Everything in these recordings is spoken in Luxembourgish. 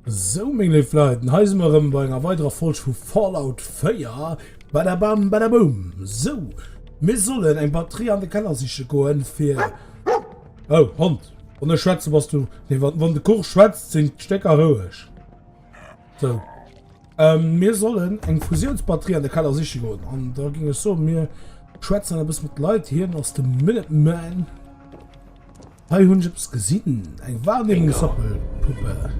So meng leif Leiden, hei si mer ëm bei enger weiderer Folg vu Fallout 4. Badabam, badabum. So, mir sollen eng Batterie an de Keller siche goen, fir... Oh, Hond. Wann ech schwätze bass du. Nee, wann de Kuch schwätzt, sinn d'Stécker roueg. So. Ähm, mir sollen eng Fusiounsbatterie an de Keller siche goen. An da ging ech so, mir schwätzen e bësse mat Leit. Hien ass de Minuteman. Hei hunn ech eppes gesinn. Eng Wahrnehmungssappelpuppe.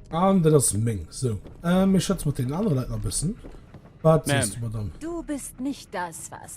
An dat ass meng. So. Ähm, mir schwätze mat den anere Leit nach e bëssen. Wat siehst du, Madame? Du bist nicht das, was.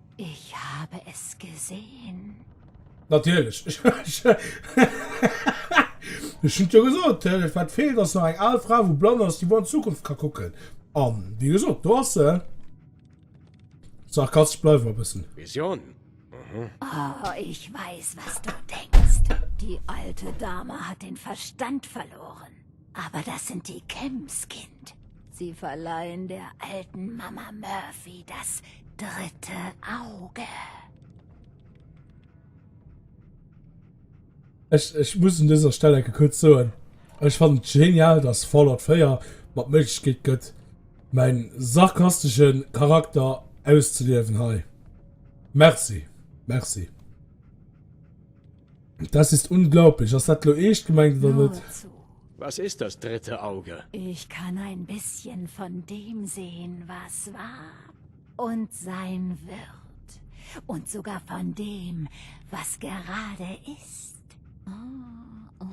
Ich habe es gesehen. Natierlech. Ech hunn et jo gesot, dat wat feelt ass nach eng al Fra wou blann ass, déi wuer an d'Zukunft ka kucken. An, wéi gesot, do ass se. Sarkastesch bleiwe mer e bëssen. Vision? Aha. Oh, ich weiß, was du denkst. Die alte Dame hat den Verstand verloren. Aber das sind die Kims, Kind. Sie verleihen der alten Mama Murphy das dritte Auge. Ech, ech muss un dëser Stell enke kuerz soen, ech fannen et genial, dass Fallout 4 mer d'Méiglechkeet gëtt, mäin sarkastesche Charakter auszeliewen hei. Merci, merci. Das ist unglaublich, ass dat lo eescht gemengt oder net? Was ist das dritte Auge? Ich kann ein bisschen von dem sehen, was war und sein wird, und sogar von dem, was gerade ist. Oh, oh,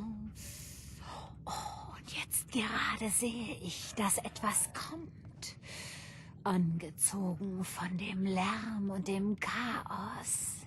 oh, und jetzt gerade sehe ich, dass etwas kommt, angezogen von dem Lärm und dem Chaos.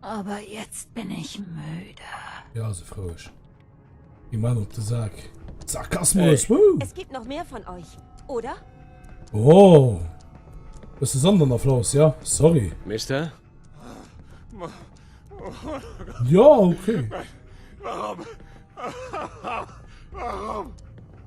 Aber jetzt bin ich müde. Ja, also froisch. Geh mal auf den Sack. Sarkasmus! Hey. Es gibt noch mehr von euch, oder? Oh! Das ist anderen Applaus, ja? Sorry. Mister? Ja, okay. Warum? Warum?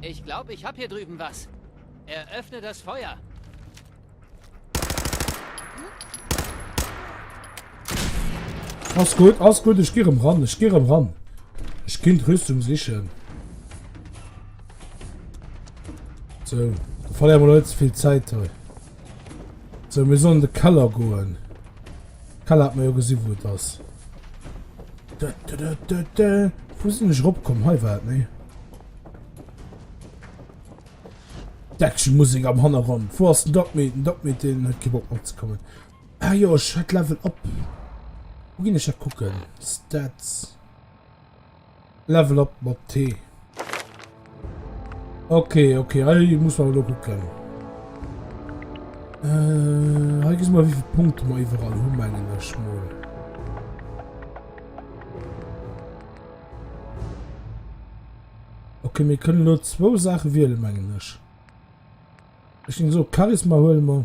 Ich glaube, ich habe hier drüben was. Eröffne das Feuer. Alles gut, alles gut, ich gehe ran, ich gehe ran. Ich kann Rüstung sichern. So, da verlieren wir Leute viel Zeit heute. So, wir sollen in den Keller gehen. Kala hat mer jo gesi wou et ass. Wou sinn ech rop komm hei war et ne? Deckchen Musik am Hannergrond. Wo ass den Doc Meat? Den Doc Meat den huet kee Bock mat ze kommen. Ah jo, ech hat Level up. Wo ginn ech dat kucken? Stats. Level up mat T. Okay, okay, hei muss man lo gucken. Äh, hei gis mal wie viel Punkte man überall hun mengen ech mal. Okay, mir können nur zwei Sachen wählen mengen ech. Ich ging so Charisma holen wir.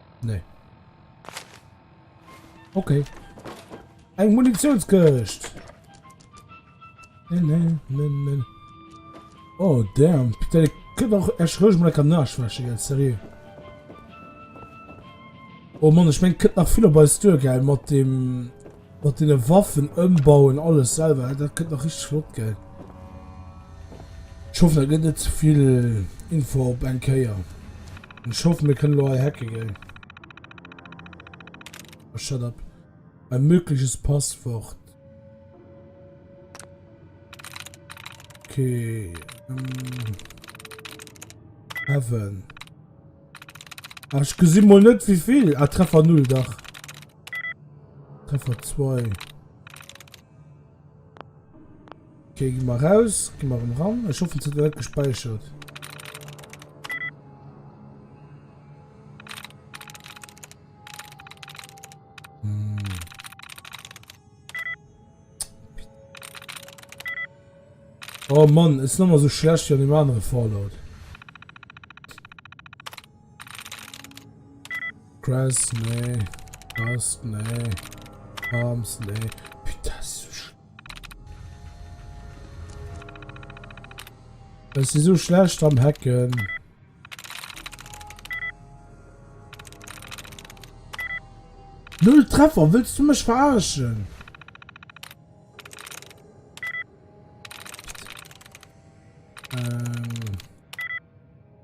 Nee. Okay. Eng Munitionskircht. Nee, nee, nee, nee. Oh, damn. Putain, ich kann doch erst ruhig mal lecker nachschwächen, jetzt, seriös. Oh Mann, ich mein, könnt nach viel bei Stür, gell, mit dem... Mat den Waffen ëmbauen alles selwer, dat kënnt nach richteg flott gell. Ech hoffen dat gëtt net zevill Info op eng Kéier. Ech hoffen mir kënne lo hei hacke gell. Oh, shut up. Ein mögliches Passwort. Okay. Ähm. Heaven. Ach, ich gesinn mal net wieviel. Ah, Treffer null, dach. Treffer 2. Okay, gi mer raus, gi mer rem ran. Ech hoffen, et huet net gespäichert. Oh Mann, ist nochmal so schlecht wie an dem anderen Fallout. Cress, nee. Rust, nee. Arms, nee. Putain, das ist so schlecht. Das ist so schlecht am Hacken. Null Treffer, willst du mich verarschen?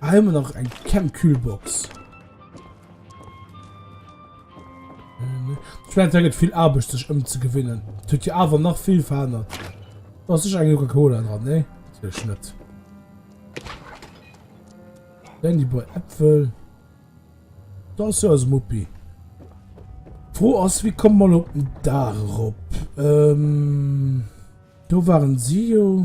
Ah, haben wir noch ein Chemkühlbox. Ähm, ich meine, es viel Arbeit, sich umzugewinnen. Tut ja aber noch viel verändert. Da ist eine Coca-Cola dran, ne? Natürlich nicht. Dann die beiden Äpfel. Da ist ja das Muppi. Froh aus, wie kommen wir auf den Dach rauf? Ähm, da waren sie ja.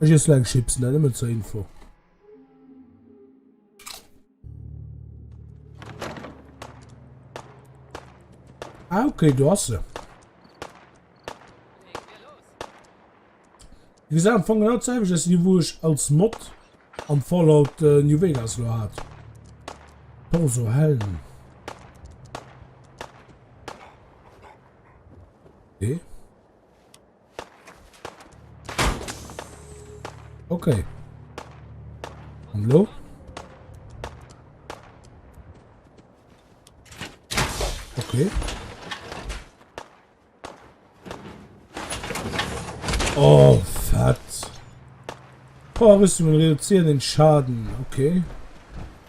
Ech iessen eng Chips, mä nëmmen zur Info. Ah, okay, do ass se. Wie gesagt, am Anfang genau dasselbe, dass die, wo ich als Mod am Fallout äh, New Vegas lo hat. Torso Helm. Okay. Okay. Und lo? Okay. Oh, fett. Power Rüstung reduzieren den Schaden. Okay.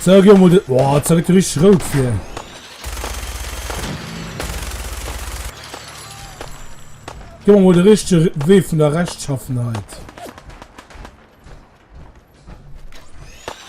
So, geh mal den... Boah, jetzt wird richtig rot hier. Geh mal den richtigen Weh von der Rechtschaffenheit.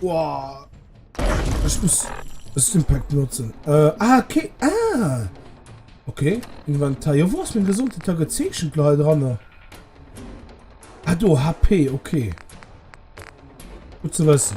Boah. Ich muss das Impact nutzen. Äh, ah, okay. Ah. Okay. Inventar. Ja, wo ist mein Gesundheitstag gezeichnet, Leute, dran? Ah, du, HP, okay. Gut zu wissen.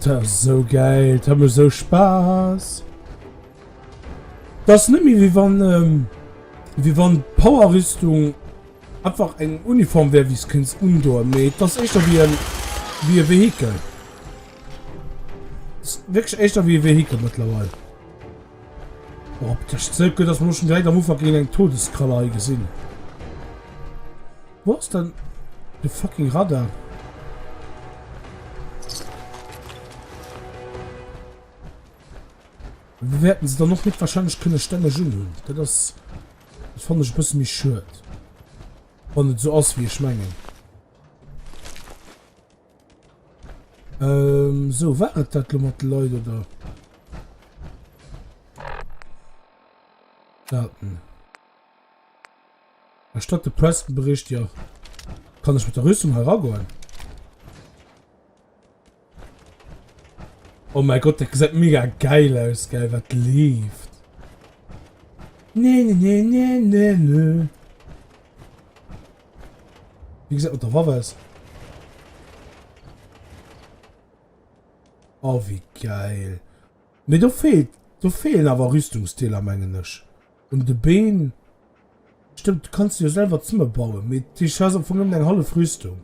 Dat ass sou geil, dat mech sou Spaß. Dat ass net méi wéi wann, wéi wann d'Power-Rüstung... Einfach eng Uniform wär wéi s'kéinst undoen, mee et ass éischter wéi en wéi e Vehikel. Ass wierklech éischter wéi e Vehikel mëttlerweil. Och op d'Tëscht ze gutt ass mer lo schonn direkt am Ufank géint eng Todeskralle hei gesinn. Wou ass dann de fucking Radar? Wou wäerten se dann och héchstwahrscheinlech kënne stänneg unhunn. Dat ass. Dat fannen ech e bësse méi schued, wann et esou ass wéi ech mengen. Ähm, sou, war et dat lo mat de Leit, oder? Daten. Erstatt de Preston-Bericht, jo. Kann ech mat der Rüstung hei eragoen? Oh mein Gott, dat gesäit mega geil aus, geil, wat leeft. Nee, nee, nee, nee, nee, nee. Wie gesagt, unter Waffe ist. Oh, wie geil. Mee do feelt, do feelen awer Rüstungsdeeler mengen ech un de Been. Stëmmt, du kanns se jo selwer zëmme bauen, mee dat heescht, du has am Fong nëmmen eng hallef Rüstung.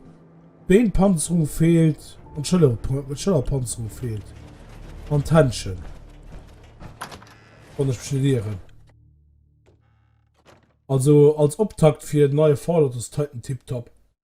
D'Beenpanzerung feelt an d'Schëllerpanzerung feelt an d'Händschen, wann ech mech net ieren. Also als Optakt fir den neie Fallout ass d'Titan tiptop.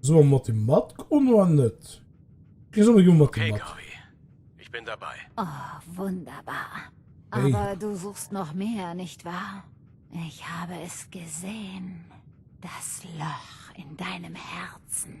So am mat dem Matk on oa net? Ech solle jo mat dem Matk. Okay Gaby, ich bin dabei. Oh wunderbar. Aber du suchst noch mehr, nicht wahr? Ich habe es gesehen, das Loch in deinem Herzen.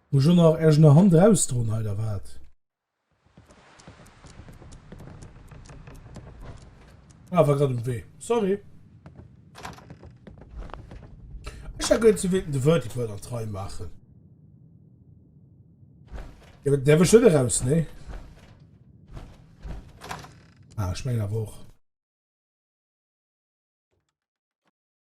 Muss ech och nach erg no hant rausdroen hei da wat? Ah war grad um Wee, sorry. Ech hat gemengt se wéilten de Vertical an d'Rei maachen. Jo dat däerf ech net eraus nee. Ah ech mengen awer och.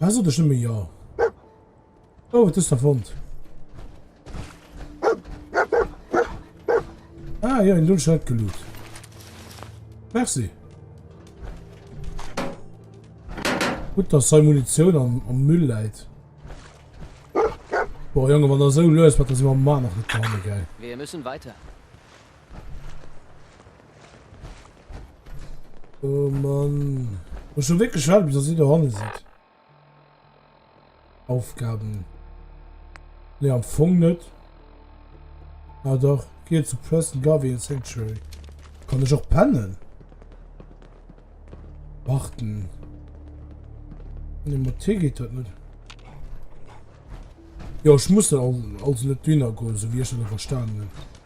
Hast du dich nicht mehr? Ja. Oh, das ist der Wand. Ah, ja, in Lundscheid gelut. Merci. Gut, dass seine Munition am, am Müll leid. Boah, Junge, wenn er so löst, wird das immer mal noch getan, geil. Wir müssen weiter. Oh Mann. Muss schon wirklich warten, bis er sie da hinten sieht. Aufgaben. Ne, am Fong nicht. Ah doch, geh zu Preston Garvey in Sanctuary. Kann ich auch pennen? Warten. Ne, mit T geht das nicht. Ja, ich muss dann also nicht dünner gehen, so wie ich schon verstanden habe.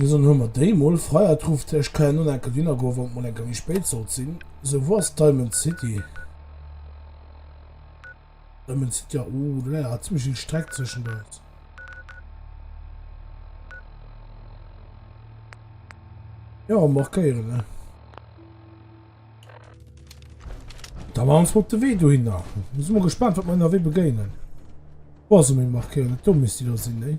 Mir soen hu mer déi mol freiatruft. Ech ka ja nun enke winner goen wann et mol enke méi spéit sollt sinn. Sou wou ass diamond city? Diamond city ja uh do läit awer zimmlech vill streck zweschent eis. Ja markéieren ne. Da ma ons mol op de wee dohinner. Sinn mol gespannt wat mer ennerwee begéinen. Boah sou meng markéieren do misst déi do sinn ne.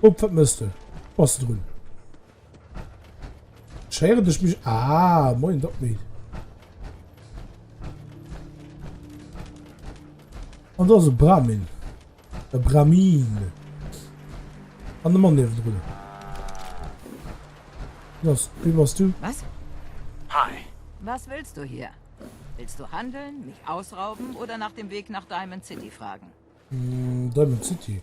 Op wat mëss de? Bass de drun? Schéiere dech mech. Ah, moien dat méi. An dat ass e Bramin. E Bramin. An de Mann niewen drun. Was, wie bass du? Was? Hi. Was willst du hier? Willst du handeln, mich ausrauben oder nach dem Weg nach Diamond City fragen? Mm, Diamond City.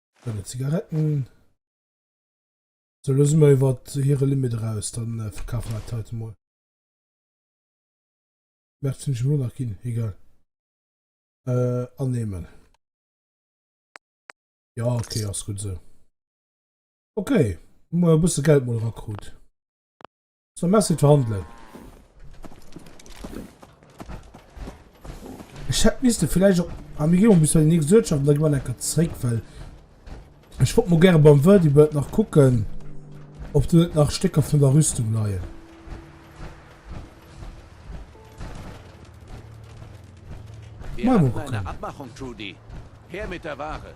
Deine Zigaretten. Sou, elo si mer iwwer hire Limit eraus. Da verkafe mer dat heiten emol. Mä et sinn ech elo nach ginn. Egal. Annehmen. Jo, okay, ass gutt esou. Okay, hu mer e bësse Geld mol erakrut. So merci verhandelen. Ich hätte müsste vielleicht auch am Regierung müssen die nächste Wirtschaft und dann gehen wir zurück, weil ich wollte mal gerne beim Verdi Bird nach gucken, ob du nach Stücke von der Rüstung leihen. Wir haben eine Abmachung, Trudy. Her mit der Ware.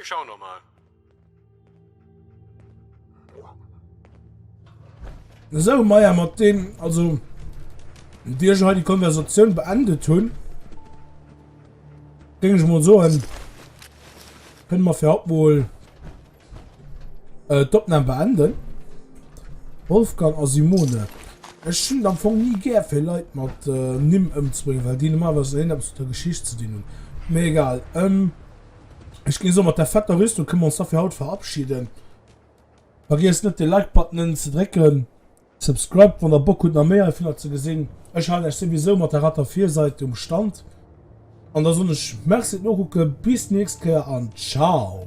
Ech schau no mal. So Meier mat dem also Dir ha die Konversatioun beendet hunn. Ding ich mal so hin. Können wir für abholen. Äh, d'Opnam beenden. Wolfgang a Simone. Ech hunn am Fong ni gär fir Leit mat äh, Nimm ëmzebréngen, well déi normalerweis een eppes der Geschicht ze dinn hunn. Mee egal. Ähm, ech ginn eso mat der fetter Rüstung kënne mer ons da fir haut verabschieden. Vergiesst net de Like-Button ze drécken. Subscribed wann der Bock hutt nach méi heivunner ze gesinn. Ech halen lech souwisou mat der retter Virsait um Stand an da soen ech Merci fir d'Nokucken, bis d'nächst Kéier an Ciao!